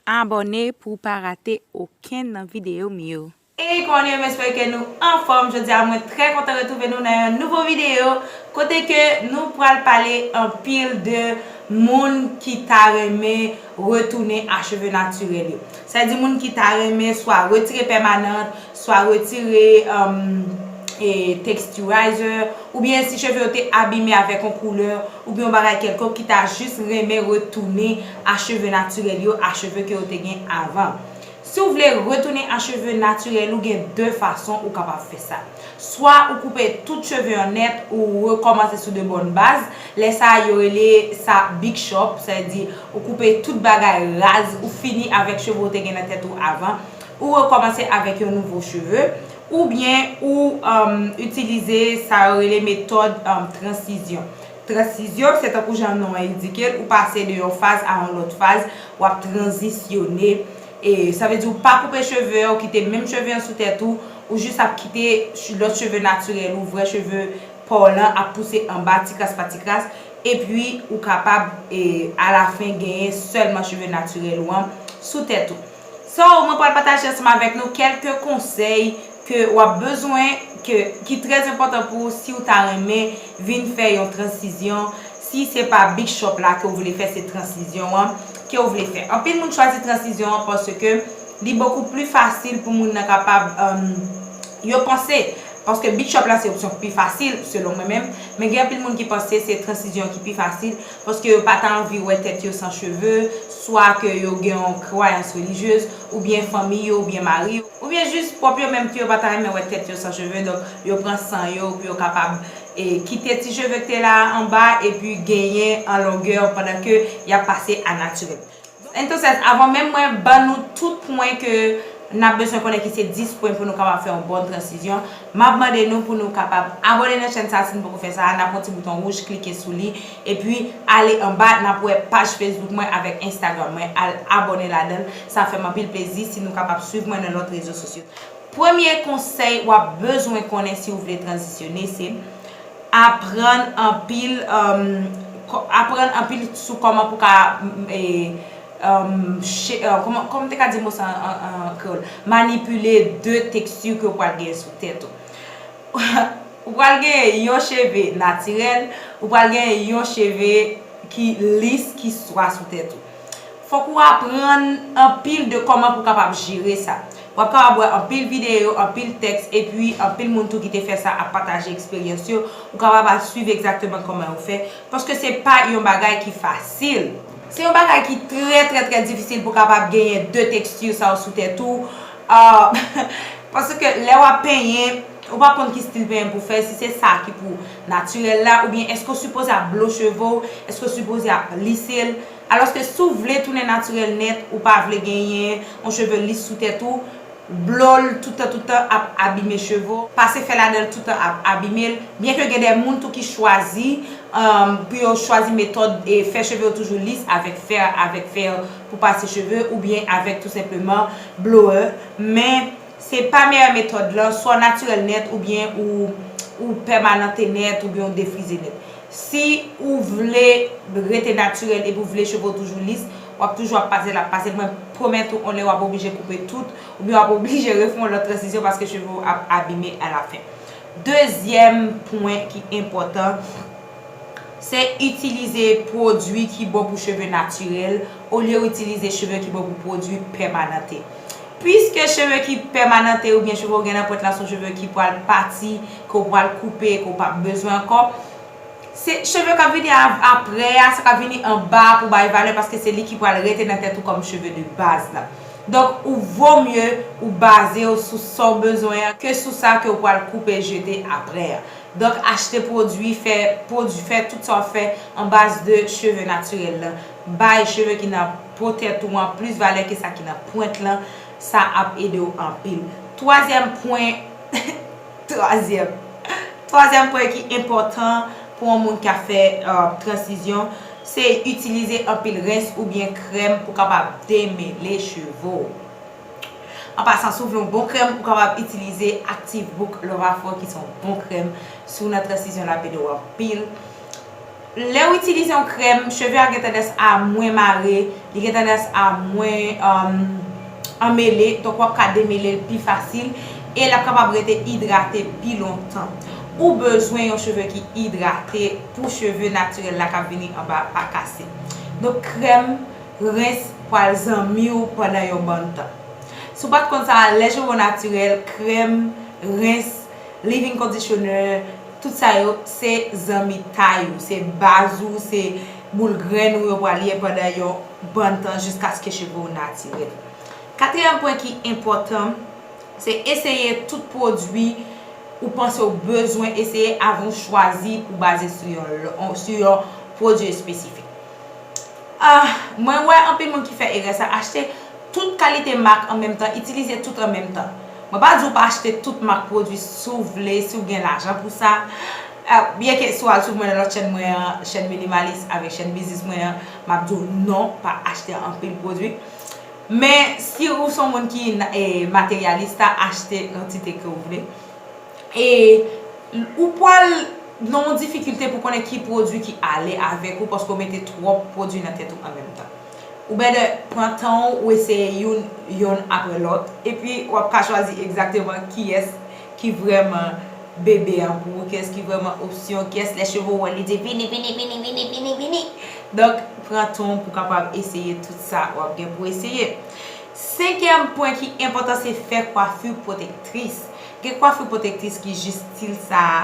Abòne pou w pa rate okenn nan videyo m yo. Hey kòne m espere ke nou anfòm jodi a mwen trè kontan retrouve nou nan yon nouvo videyo kote ke nou pral pale anpil de moun ki ta renmen retounen a cheve natirèl yo sa vle di moun ki ta renmen swa retire pèmanant swa retire texturizer, oubyen si cheve yo te abime avèk yon koulè oubyen yon bagay kèlkonk ki ta jis renmen retounen a cheve natirèl yo, a cheve ke yo te gen avan. Si w vle retounen a cheve natirèl ou gen 2 fason ou kapab fè sa. Swa ou koupe tout cheve an nèt ou rekòmanse sou de bòn baz, lè sa yo rele sa big chop, sa vle di ou koupe tout bagay raz ou fini avèk cheve ou te gen nan tèt ou avan. Ou rekòmanse avèk yon nouvo cheve, oubyen ou itilize sa yo rele metòd transizyon. Transizyon, se tankou jan non an endike l, ou pase de yon faz a yon lòt faz, w ap tranzisyone. Sa vle di ou pa koupe cheve, ou kite menm cheve an sou tèt ou, ou jis ap kite lòt cheve natirèl ou, vrè cheve pa w lan ap pouse anba tikras pa tikras, epi ou kapab alafen genyen sèlman cheve natirèl ou an sou tèt ou. So mwen pral pataje ansanm avèk nou kèlke konsèy ke wap bezwen ke ki trè enpòtan pou ou siw ta renmen vin fè yon transizyon si se pa big chòp la ke ou vle fè se transizyon an ke ou vle fè anpil moun chwazi transizyon an paske li bokou pli fasil pou moun nan kapab yo panse paske big chòp la se opsyon ki pi fasil selon mwen menm men gen anpil moun ki panse se transizyon an ki pi fasil paske yo pa ta anvi wè tèt yo san cheve, swa ke yo gen yon kwayans relijyez, oubyen fanmi yo, oubyen mari yo, oubyen jis pwòp yo menm tou yo pa ta renmen wè tèt yo san cheve, donk yo pran san yo pou yo kapab kite ti cheve ki te la a anba epi genyen an longè pandan ke y ap pase a natirèl. Entonces, avan menm mwen ban nou tout pwen ke n ap bezwen konnen ki se 10 pwen pou nou kapab fè yon bon transizyon, m ap mande nou pou nou kapab abòne nan chèn sa si n poko fè sa a, n ap wè yon ti bouton wouj klike sou li, epi ale anba n ap wè paj Facebook mwen avèk Instagram mwen al abòne ladan l, sa fè m anpil plezi si nou kapab swiv mwen nan lòt rezo sosyo. Premye konsèy wap bezwen konnen si ou vle tranzisyone se, aprann anpil aprann anpil sou kòman pou ka kòman m te ka di mo sa an kreyòl manipile de teksti ke ou pral genyen sou tèt ou. Ou pral genyen yon cheve natirèl, ou pral genyen yon cheve ki lis, ki swa sou tèt ou. Fòk ou aprann anpil de kòman pou kapab jere sa. W ap kapab wè anpil videyo, anpil tèks, epi anpil moun tou ki te fè sa ap pataje eksperyans yo, ou kapab al swiv egzakteman kòman yo fè, paske se pa yon bagay ki fasil. Se yon bagay ki trè trè trè difisil pou kapab genyen de teksti sa yo sou tèt ou, paske lè w ap penyen. Ou pa konn ki stil penyen pou fè, si se sa ki pou natirèl la, oubyen èske ou sipoze ap blo cheve w, èske ou sipoze ap lise l. Alòske si w vle tounen natirèl nèt, ou pa vle genyen yon cheve lis sou tèt ou, blo l toutan toutan ap abime cheve w, pase fè ladan l toutan ap abime l, byenke gen de moun tou ki chwazi pou yo chwazi metòd fè cheve yo toujou lis avèk fè avèk fè pou pase cheve oubyen avèk tou senpleman blower, men. Se pa meyè metòd lan, swa w natirèl nèt oubyen ou ou pèmanante nèt oubyen ou defrize nèt. Si ou vle rete natirèl epi ou vle cheve w toujou lis, w ap toujou ap pase l ap pase, mwen pwomèt ou on lè w ap oblije koupe tout oubyen w ap oblije refè yon lòt transizyon paske cheve w ap abime alafen. Dezyèm pwen ki enpòtan, se itilize pwodui ki bon pou cheve natirèl olye w itilize cheve ki bon pou pwodui pèmanante. Piske cheve ki pèmanante oubyen cheve ou gen nan pwent la son cheve ki pral pati, ke ou pral koupe, ke ou p ap bezwen ankò, se cheve k ap vini apre a, sa k ap vini anba a pou w bay valè paske se li ki pral rete nan tèt ou kòm cheve de baz la. Donk, ou vo mye ou baze w sou sa w bezwen an ke sou sa ke ou pral koupe jete apre a. Donk, achte pwodui, fè pwodui, fè tout sa w ap fè an baz de cheve natirèl lan. Bay cheve ki nan. po tèt ou an plis valè ke sa ki nan pwent lan, sa ap ede w anpil. Twazyèm pwen, twazyèm, twazyèm pwen ki enpòtan pou yon moun ki ap fè transizyon, se itilize anpil rens oubyen krèm pou kapab demele cheve w. An pasan, si w vle yon bon krèm, ou kapab itilize Active Book Love Afro ki se yon bon krèm. Si w nan transizyon l ap ede w anpil. Lew itilize yon krèm cheve a gen tandans a mwen mare, li gen tandans a mwen anmele, donk wap ka demelel pi fasil e lap kapab rete idrate pi lontan. Ou bezwen yon cheve ki idrate pou cheve natirèl la kap vini anba a pa kase. Donk krèm rens pwal zanmiw pandan yon bann tan. Si w pat konn sa, lè cheve w natirèl, krèm rens, leave-in conditioner, Tout sa yo se zanmitay ou, se baz ou, se boul grenn ou yo pral ye pandan yon bann tan jiskaske cheve w natirèl. Katriyèm pwen ki enpòtan, se eseye tout pwodui ou panse w bezwen eseye avan w chwazi pou w baze sou yon pwodui espesifik. Ahh mwen wè anpil moun ki fè erè sa achte tout kalite mak an menm tan itilize tout an menm tan mwen pa di ou pa achte tout mak pwodwi si w vle si w gen lajan pou sa byen ke si w al swiv mwen nan lòt chèn mwen an chèn minimalis avèk chèn biznis mwen an m ap di w non pa achte anpil pwodwi men si ou son moun ki materyalista achte kantite ke w vle. E ou pwal nan yon difikilte pou konnen ki pwodwi ki ale avèk ou paske ou mete twòp pwodwi nan tèt ou an menm tan. Ou bètè pran tan ou, ou eseye youn, yonn aprè lòt, epi w ap ka chwazi egzakteman kiyès ki vrèman bebe an pou ou, kiyès ki vrèman opsyon, kiyès lè cheve w wè li di vini, vini, vini, vini, vini, vini. Donk, pran tan w pou w kapab eseye tout sa w ap gen pou eseye. Senkyèm pwen ki enpòtan se fè kwafi pwotektris. Gen kwafur pwotektris ki jis stil sa a.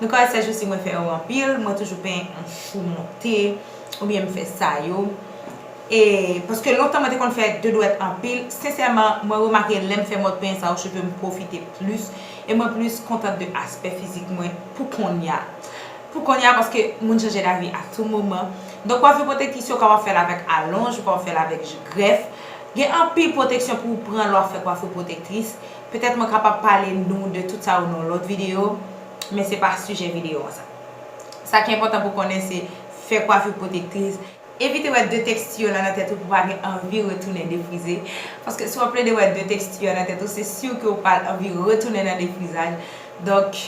Nou ka wè sèjousi mwen fè yo anpil, mwen toujou penyen an chou monte oubyen m fè sa yo. E paske lontan mwen te konn fè de dwèt anpil, sensèman mwen remake lè m fè mòd penyen sa yo cheve m pwofite plis e mwen plis kontant de aspè fizik mwen pou konnya. Pou konnya paske moun chanje davi a tou moman. Donk kwafur pwotektris yo kapab fè l avèk alonj, ou kapab fè l avèk grèf. Gen anpil pwoteksyon pou ou pran lè w ap fè kwafur pwotektris. Petèt mwen kapab pale nou de tout sa yo nan yon lòt videyo, men se pa sijè videyo an sa. Sa ki enpòtan pou w konnen se, fè kwafi pwotektriz, evite wè de teksti yo la nan tèt ou pou w pa gen anvi retounen defrize, paske si w ap plede wè de teksti yo nan tèt ou se sur ke ou pral anvi retounen nan defrizaj, donk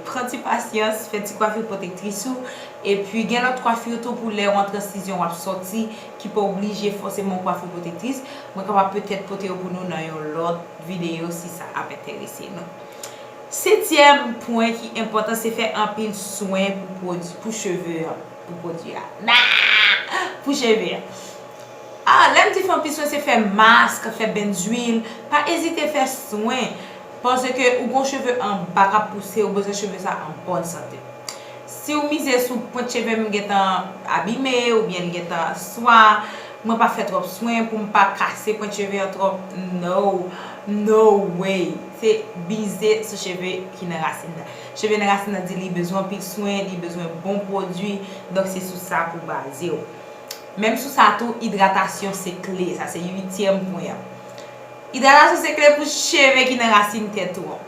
pran ti pasyans, fè ti kwafi pwotektris ou, epi gen lòt kwafi tou pou lè ou an transizyon w ap sòti ki pa oblije fòseman yon kwafi pwotektris, mwen kapab petèt pote yo pou nou nan yon lòt. videyo si sa ap enterese nou. Setyèm pwen ki enpòtan se fè anpil swen pou pwodui pou cheve an pou pwodui a nahh pou cheve an ah lèm di fè anpil swen se fè mask fè bèn zwil pa ezite fè swen paske ou gon cheve anba kap pouse ou bezwen cheve sa an bòn sante Siw mize sou pwent chevem gentan abime oubyen li gentan swa mwen pa fè twòp swen poum pa kase pwent cheve an twòp no no way se bize sou cheve ki nan rasin nan cheve nan rasin nan di li bezwen anpil swen li bezwen bon pwodwi donk se sou sa pou bazew menm sou sa tou idratasyon se kle sa se uityèm pwen an idratasyon se kle pou cheve ki nan rasin tèt ou an.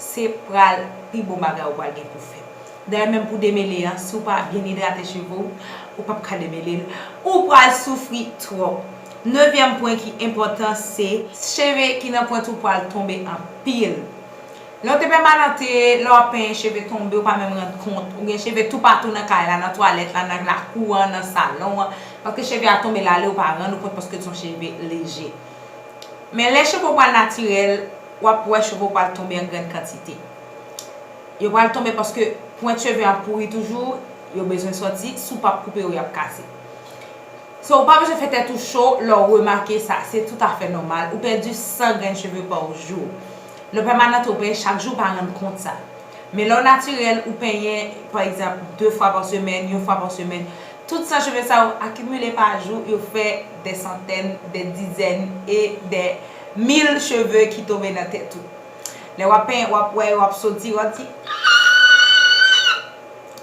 Se pral pi bon bagay ou pral gen pou fè. Dayè menm pou demele an, si w pa byen idrate cheve w, ou pap ka demele l, ou pral soufri twòp. Nevyèm pwen ki enpòtan se. Cheve ki nan pwent ou pral tonbe anpil. Lè w te pèmanante, lè w ap penyen cheve tonbe ou pa menm rann kont. Ou gen cheve toupatou nan kay la, nan twalèt la, nan lakou an, nan salon an. Paske cheve a tonbe lale ou pa rann ou kont paske l son cheve leje. Men lè cheve w pral natirèl, w ap wè cheve w pral tonbe an grann kantite. Yo pral tonbe paske pwent cheve ap pouri toujou, yo bezwen sòti, si w p ap koupe yo, y ap kase. So, ou pa bezwen fè tèt ou cho lè w remake sa, se toutafè nòmal. Ou pèdi 100 grenn cheve pa w jou. Lè w pèmanant ou penyen chak jou, ou pa rann kont sa. Men lè w natirèl, ou penyen, pa egzanp, 2 fwa pa semèn, yon fwa pa semèn, tout 100 cheve sa yo akimile pa jou, yo fè dè santèn, dè dizèn e dè. Mil cheve ki tonbe nan tèt ou. Lè wap penyen wap wè yo ap soti wap di aaaaaaa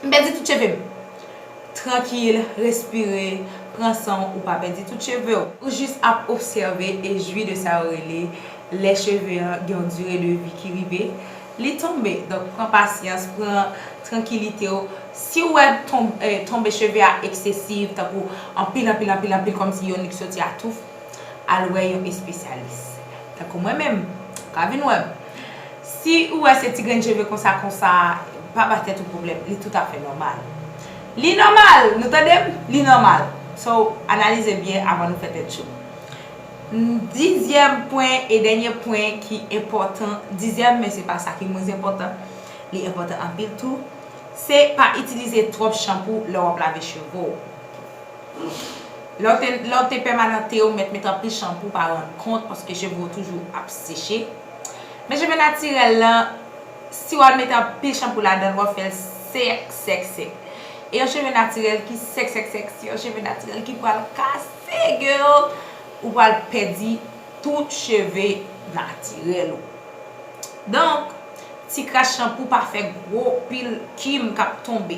m pèdi tout chevem. Trankil, respire, pran san w ou pa pèdi tout cheve w. Ou jis ap obsève e jwi de sa yo rele lè cheve an gen yon dire de vi ki rive li tonbe. Donk pran pasyans, pran trankilite w. Si w wè tonbe cheve a eksesiv tankou anpil anpil anpil anpil kòmsi yon li k soti atouf. al wè yon espesyalis tankou mwen menm ka vin wèm si ou wè se ti grenn cheve konsa konsa pa ba tèt ou pwoblèm li tout afè nòmal li nòmal nou tandem li nòmal so analize byen avan nou fè tèt cho dizyèm pwen e dènye pwen ki enpòtan dizyèm men se pa sa ki mwens enpòtan li enpòtan anpil tou se pa itilize twòp chanpou lè wap lave cheve w. Lèw te pèmanante ou mèt met anpil chanpou ou pa rand kont paske cheve ou toujou ap seche men cheve natirèl lan si wal met anpil chanpou ladanl wap fèl sèk sèk sèk e yon cheve natirèl ki sèk sèk sèk se yon cheve natirèl ki pral kase girl ou pral pèdi tout cheve natirèl ou donk ti kras chanpou pa fè gwo pil kim kap tonbe.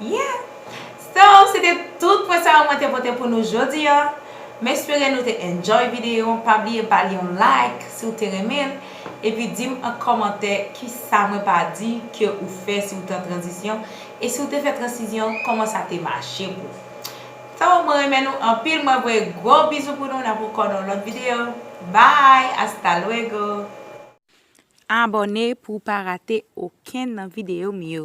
Yeah! So, se te tout pwen sa yo mwen te pote pou nou jodi an. M espere nou te enjoy videyo an. Pa bliye ba li yon like si w te renmen l. Epi di m an kòmantè ki sa mwen pa di ke ou fè si w te an tranzisyon. E si w te fè transizyon, kòman sa te mache pou w. So, mwen renmen nou anpil. Mwen voye gwo bizou pou nou. N ap ankò nan yon lòt videyo. Bye! Hasta luego! Abòne pou w pa rate okenn nan videyo m yo.